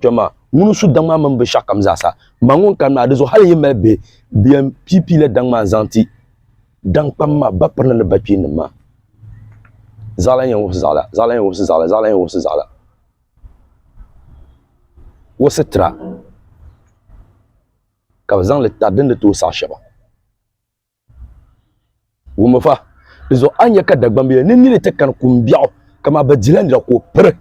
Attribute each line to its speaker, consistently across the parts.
Speaker 1: Kpɛm maa, ŋuni n-su daŋ maa mini bɛ shɛɣu kam zaasa. M ma ŋun kani maa, di zuɣu hal n-yi mali bihi, bɛ yɛn pii pii la daŋ maa n-zaŋ ti daŋ kpam maa ba pirina ni ba kpeennim maa. Zaɣila n-yɛn wubisi zaɣila, zaɣila n-yɛn wubisi zaɣila, zaɣila n-yɛn wubisi zaɣila. O sitira ka bɛ zaŋ li tari din ni tooi saɣi shɛba. Wummi fa, di zuɣu a ni nya ka Dagbambiya ni nini ti kani kum biɛɣu, kamaa bɛ dila nira ka o piri.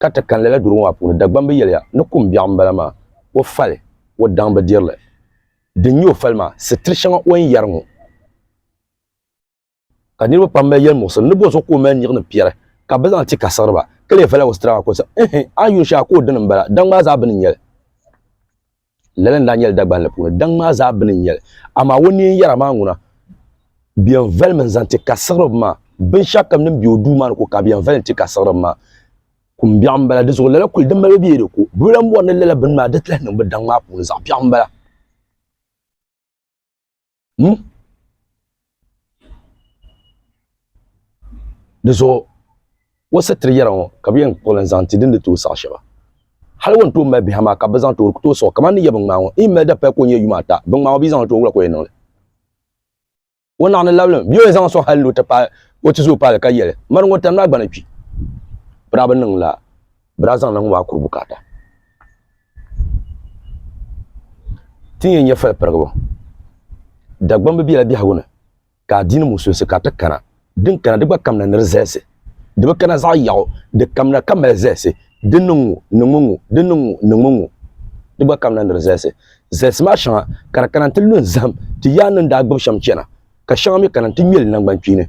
Speaker 1: Ka ti kani lala durigu maa puuni, Dagbambi yɛliya ni kum biɛɣu m-bala maa, o fali o daŋ bi diri li. Din nyɛ o fali maa, sitiri shɛŋa o ni yɛri ŋɔ. ka niriba pam mali yɛli muɣisiri ni bɔ zuɣu ka o mali nyiɣi ni piɛri ka bɛ zaŋ ti ka siɣiri ba ka lee vala o sitira maa ka o sa ɛhɛ a yuun shɛha ka o dini m-bala daŋ maa zaa bini n-nyɛli lala n-daa nyɛli Dagbanli puuni daŋ maa zaa bini n-nyɛli amaa o neen yɛra maa ŋuna bɛ yɛn valimi n-zaŋ ti ka siɣiri ba maa binshɛɣukam din be o duu maa ni ko ka bɛ yɛn vali n-ti ka siɣiri ba maa kumbiɛɣu m-bala di zuɣu lala kuli din mali bɛ yɛli ko bɛ lan bɔri ni lala bini maa di ti lahi niŋ bɛ daŋ maa puuni zaɣ biɛɣu m-bala Hmm? Di zuɣu o sitiri yɛra ŋɔ ka bi yɛn kpuɣili n zaŋ ti din di tooi saɣa shɛba hali o ni tooi mali biha maa ka bi zaŋ tooi tooi sɔɣi kamani ni yɛ bin ŋmaa ŋɔ yi mali dapaya ka o nyɛ yuma ata bin ŋmaa ŋɔ bi zaŋ tooi wula ka o yɛn niŋli o naɣani labilim bi yɛn zaŋ sɔŋ hali ni o ti paai o ti zooi paali ka yɛli mari ŋɔ tani maa gbana kpi birabi niŋ la bɛ daa zaŋla ŋɔ maa kuri bukaata. Ti ni yɛn nya falipirigibu, Dagbamb bi bela biɛhigu ni ka adiini musulinsi ka ti kana, din kana di gba kamina ni di zalisi, di bi kana zaɣ yaɣu, di kamina ka mali zalisi, di niŋ ŋɔ, ni ŋɔ ŋɔ, di niŋ ŋɔ, ni ŋɔ ŋɔ, di gba kamina ni di zalisi. Zalisi maa shɛŋa ka di kana nti lu n-zahim ti yaannim daa gbib shɛm chana, ka shɛŋa mi kana nti ŋme li naŋgbankpeeni.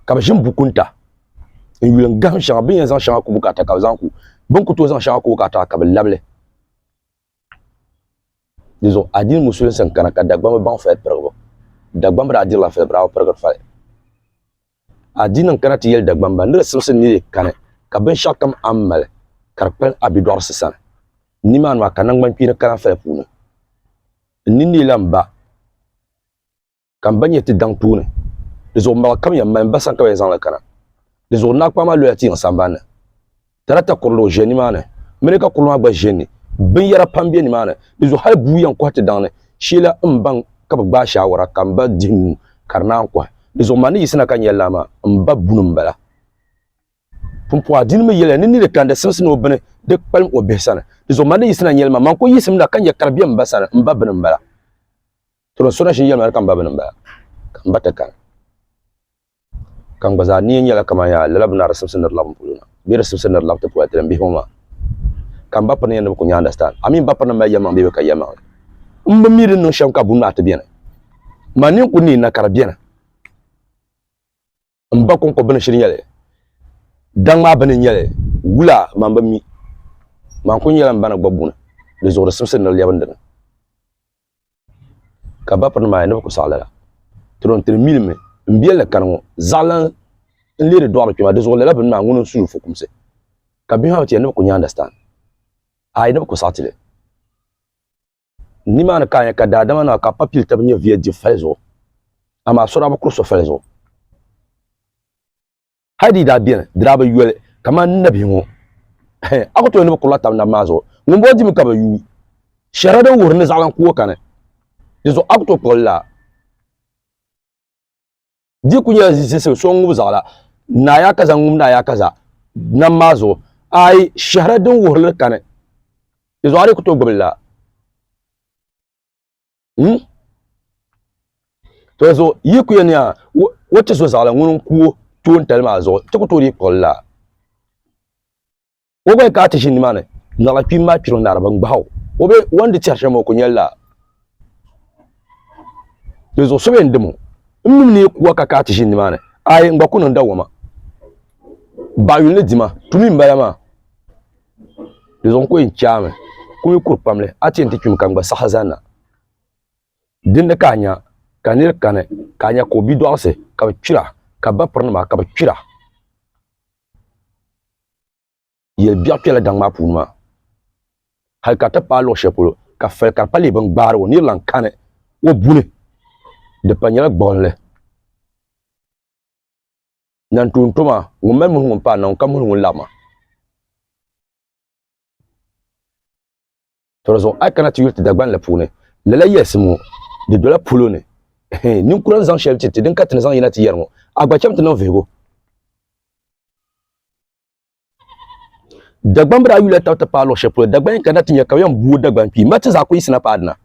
Speaker 1: ka bi ʒini bukunta n yuli n gahim shɛŋa bin yɛn zaŋ shɛŋa ku bukaata ka bi zaŋ ku bin ku tooi zaŋ shɛŋa ku bukaata ka bi labili di zuɣu adini musulinsi n kana ka dagbam bi baŋ fali pirigibu dagbam bi daa dirila fali bi daa bi pirigiri fali adini n kana ti yɛli dagbam ba ni di simsi ni di kani ka binshaɣu kam a ni mali ka di kpali a bidɔɣirisi sani nimaani maa ka naŋgbani kpeeni kana fali puuni n ninni la n ba ka m ba nyɛ ti daŋ tuuni. Di zuɣu maɣa kam ya m mali m ba sani ka bɛn zaŋli kana. Di zuɣu Naa Kpaama loya tiyiŋ sambani ni. Tarata kurili o ʒe nimaani, mini ka kurili maa gba ʒe n-ni. Binyɛra pam be nimaani. Di zuɣu hali bua yɛn kɔhi ti daŋ ni. Sheela m baŋ ka bɛ gbaai shaawara ka m ba dihi nuu ka di naan kɔhi. Di zuɣu man ni yiɣisina ka nya laa maa, m ba buni m-bala. Pumpɔha di ni mi yɛliya ni n ni di kandi simsi ni o bini di kpalim o bihi sani. Di zuɣu man ni yiɣisina nyɛli ma, man kul yiɣisim na ka nya ka di be m ba sani, m ba bini m-bala. To din sona shili yɛlmaŋli ka m ba bini m-bala, ka m ba ti kani. Ka n gba zaa nia nyɛla kaman yaa lala bini a di sibisi ni di labi m polo na, bee di sibisi ni di labi ti politi din bihi ŋɔ maa. Ka m ba piri ni yɛn ni bɛ ku nya understand. A mi m ba piri ni m mali yɛlimaŋli bee bɛ ka yɛlimaŋli. M bi mi di ni niŋ shɛm ka buni maa ti beni. Man ni n ku neei na ka di beni. n ba kɔŋko bini shiri nyɛli daŋ maa bini nyɛli wula man bi mi man ku nyɛla n ba ni gba buni di zuɣu di simsi ni di lɛbi n dini ka ba piri maa ni bi ku saɣi lala tiro n tiri milimi n biɛli ni kani ŋɔ zaɣalan n leeri dɔɣiri kpɛma di zuɣu lala bini maa ŋuni n suyi fukumsi ka bihi maa bi ti yɛli ni bi ku nya understand ayi ni bi ku saɣi tili Ni maa ni ka a nya ka daadama nima ka pa pili taba nyɛ viya dibu fali zuɣu, amaa so daa bi kuri so fali zuɣu. Hal di yi daa beni, di daa bi yoli, kamani nabihi ŋɔ. A ku tooi ni bi kurila taba nabi maa zuɣu, ŋumbɔŋɔ dimi ka bi yuui shɛrɛ din wuhiri ni zaɣilan ku o kani. Dinzuɣu a ku tooi kpuɣi li laa. di ku nyɛla zizisim so ŋub zaɣila naa yaa kaza ŋum naa yaa kaza nam maa zuɣu ayi shɛhira din wuhirili kani di zuɣu a ni ku tooi gbibili la hmm? to zuɣu yi ku yɛn yaa wo ti so zaɣila ŋuni n-ku o toon tali maa zuɣu ti ku tooi dii kpuɣili la o gba ka ti ʒi nimaani naɣila kpim maa kpiro naara ban gbahi o o be wan di tɛri shɛm o ku nyɛli laa di zuɣu so bɛ n dim o n mim ni kuwa ka ka ti ʒi nimaani ayi n gba ku niŋ dawoma baɣayuli ni dima tumi n bala maa di zuɣu n ku yɛn chaami ku mi kuri pamli a ti yɛn ti kpimi ka n gba saɣa zanna dindi ka a nya ka niri kani ka a nya ka o bidɔɣisi ka bi kpira ka bapiri nima ka bi kpira yɛli biɛɣu kpɛla daŋ maa puuni maa hali ka ti paai luɣu shɛli polo ka fali ka di pa lee bini gbaari o nirilan kani o buni di pa nyɛla gbuɣinli nan tuun to maa ŋun mali muhi ŋun paai na ŋun ka muhi ŋun laɣima to di zuɣu a kana ti yuli ti Dagban la puuni lala yɛlisi ŋɔ di dola polo ni ninkura n zaŋ shɛli ti ti din ka ti ni zaŋ yina ti yɛri ŋɔ a gba chɛm ti niŋ vihigu Dagban bi daa yuli taba ti paai luɣu shɛli polo Dagban yɛn kana ti nyɛ ka bi yɛn buo Dagban kpi ma ti zaa ku yisina paai dina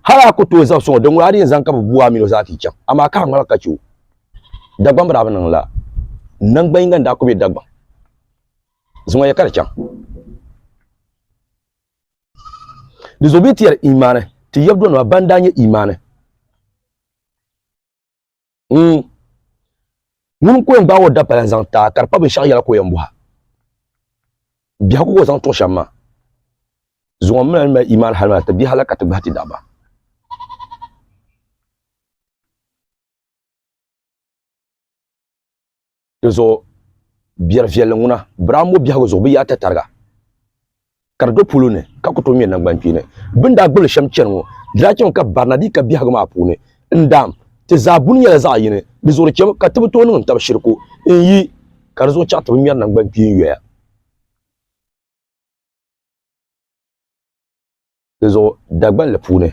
Speaker 1: hali a ku tooi zabisi ŋɔ din ŋɔ a di yɛn zaŋ ka bi buo a mini o zaa ti yi chɛŋ amaa ka a ŋmaligi ka chɛ o Dagban bi daa bi niŋ la nangbani yinga n daa ku be Dagban Zuŋɔ ya ka di chaŋ. Di zuɣu bee ti yɛri imaani ti yɛbudonima ban daa nyɛ imaani. Mm. Ŋuni n-ku yɛn gbaai o dapala n-zaŋ ti a ka di pa binshɛɣu yɛla ka o yɛn bɔhi a? Biɛhigu ka o zaŋ tuɣi shɛm maa. Zuŋɔ m mi lan mali imaani hali maa ti biɛhi la ka ti gbahi ti daɣiba. Di zuɣu biɛri viɛlli ŋuna, Biraambo biɛhigu zuɣu bɛ yaata tariga ka di do polo ni ka ku tooi ŋmɛ naŋgbankpeeni. Bɛ ni daa gbibili shɛm chani ŋɔ, di daa chɛmi ka barina dii ka biɛhigu maa puuni. N daam, ti zaa buni nyɛla zaɣ yini, di zuɣu di chɛmi ka ti bi tooi niŋdi tab shiriku n yi ka di zuɣu chaŋ ti bi ŋmɛri naŋgbankpeen yoya. Dinzuɣu Dagbanli puuni,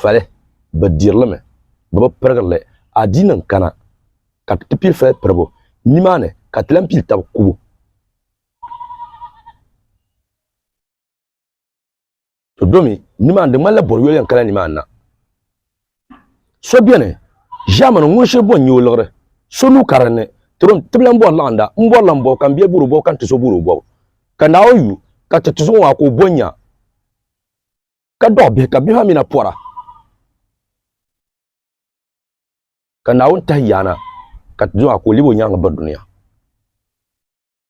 Speaker 1: fali bi dirilimi bɛ bi pirigirili adiini n kana ka ti pili fali piribu nimaani ka ti lan pili tab kubu. To domi nimaani di ŋmanila bɔri yoli yɛn kala nimaani na. So beni, Ʒiɛmani, ŋun shiri bɔn n-nyɛ o liɣiri. So nuu kari n ni, tiri o n tibili m-bɔri laɣinda, m bɔrila m bɔbu ka m bia buri o bɔbu ka n ti so buri o bɔbu. Ka Naa o yu, ka ti tizuɣu maa ka o bɔn nya, ka dɔɣi bihi, ka bihi maa mi na pɔra. Ka Naawuni tahi yaana, ka ti zuɣu maa ka o lɛbi o nyaaŋa biri dunia.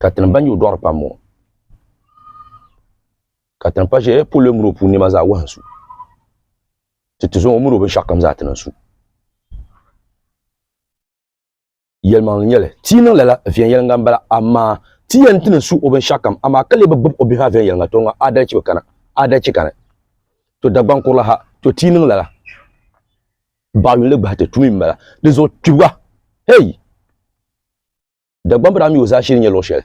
Speaker 1: ka tinim ban nyɛ o dɔɣiri pam ŋɔ ka tinim pa ʒe polo mini o puuni nɛma zaa wahin su ti tizuŋɔ o mini o binshɛɣu kam zaa ti niŋ su yɛlimaŋli nyɛli ti yi niŋ lala viɛnyɛliŋga m-bala amaa ti yɛn ti niŋ su o binshɛɣu kam amaa ka lee bi gbib o bihi maa viɛnyɛliŋga tɔ ŋɔ aadalichi bi kana aadalichi kani to Dagbaŋ kurili ha to ti yi niŋ lala baɣiyuli gbahi ti tumi m-bala di zuɣu kpibiga hey Dagbamb daa mi o zaashili nyɛ luɣ shɛli.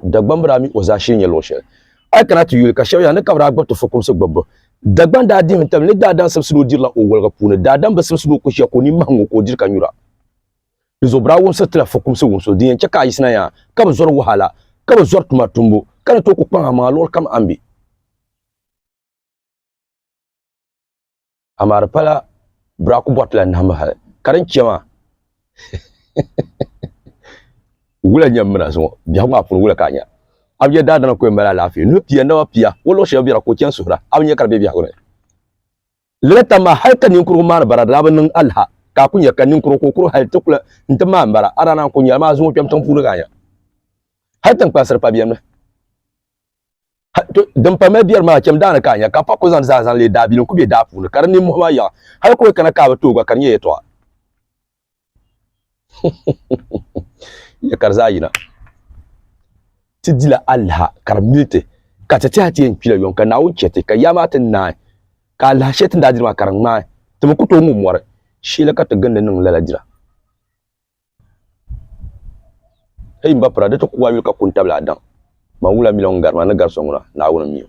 Speaker 1: Dagbamb daa mi o zaashili nyɛ luɣ shɛli. A yi kana ti yuli ka shɛba yɛli a ni ka bɛ daa gba ti fukumsi gbibbu. Dagbaŋ daa dihimi tabili ni daadam simsili o dirila o woliga puuni, daadam bi simsili o kushia ka o nini mahi ŋ-ŋɔ ka o diri ka nyura. Dizuɣu bɛ daa wumsiri ti la fukumsi wumsibu din yɛn chɛ ka a yiɣisina yaa ka bi zɔri wahala, ka bi zɔri tuma tumbu, ka ni tooi ku kpaŋ amaŋa luɣilikam a ni be. amaa di pala biraku bɔriti la nahimbu hali ka din chɛ maa wula nyɛ mina zuŋɔ biɛhigu maa puuni wula ka a nya a bia daadama kɔyɛ mali alaafee nuhi pia naba pia o luɣu shɛba bɛra ka o chani suhira a bi nya ka di be biɛhigu ni lala tam maa hali ka ninkurugu maani bara di daa bi niŋ alaha ka a ku nya ka ninkurugu ka o kuri hali ti kula n ti maani bara a daa naan ku nyɛla maa zuŋɔ kpɛm tiŋ puuni ka a nya hali tiŋkpansiri pa biɛni mi din pa mali biɛri maa chɛm daani ka a nya, ka pa ku zaŋ zaa zaŋ leei daabilim ku be daa puuni, ka di ninmɔhi maa yaɣi, hal ka o kana ka a bi tooi gba, ka di nyɛ yɛtɔɣa. Nya ka di zaa yina. Ti dila alaha ka di mili ti, ka ti tɛha ti yɛn kpila yɔŋ, ka Naawuni chɛ ti, ka yaa maa ti naai, ka alaha shɛli ti ni daa diri maa ka di ŋmaai, ti bi ku tooi ŋub mɔri, sheela ka ti gindi niŋ lala dira. Eyi m ba pira di ti ku a yuli ka ku n tabili a daŋ. Ban wula miliɔŋ gari ma ni gari so ŋuna, Naawuni m-mi o.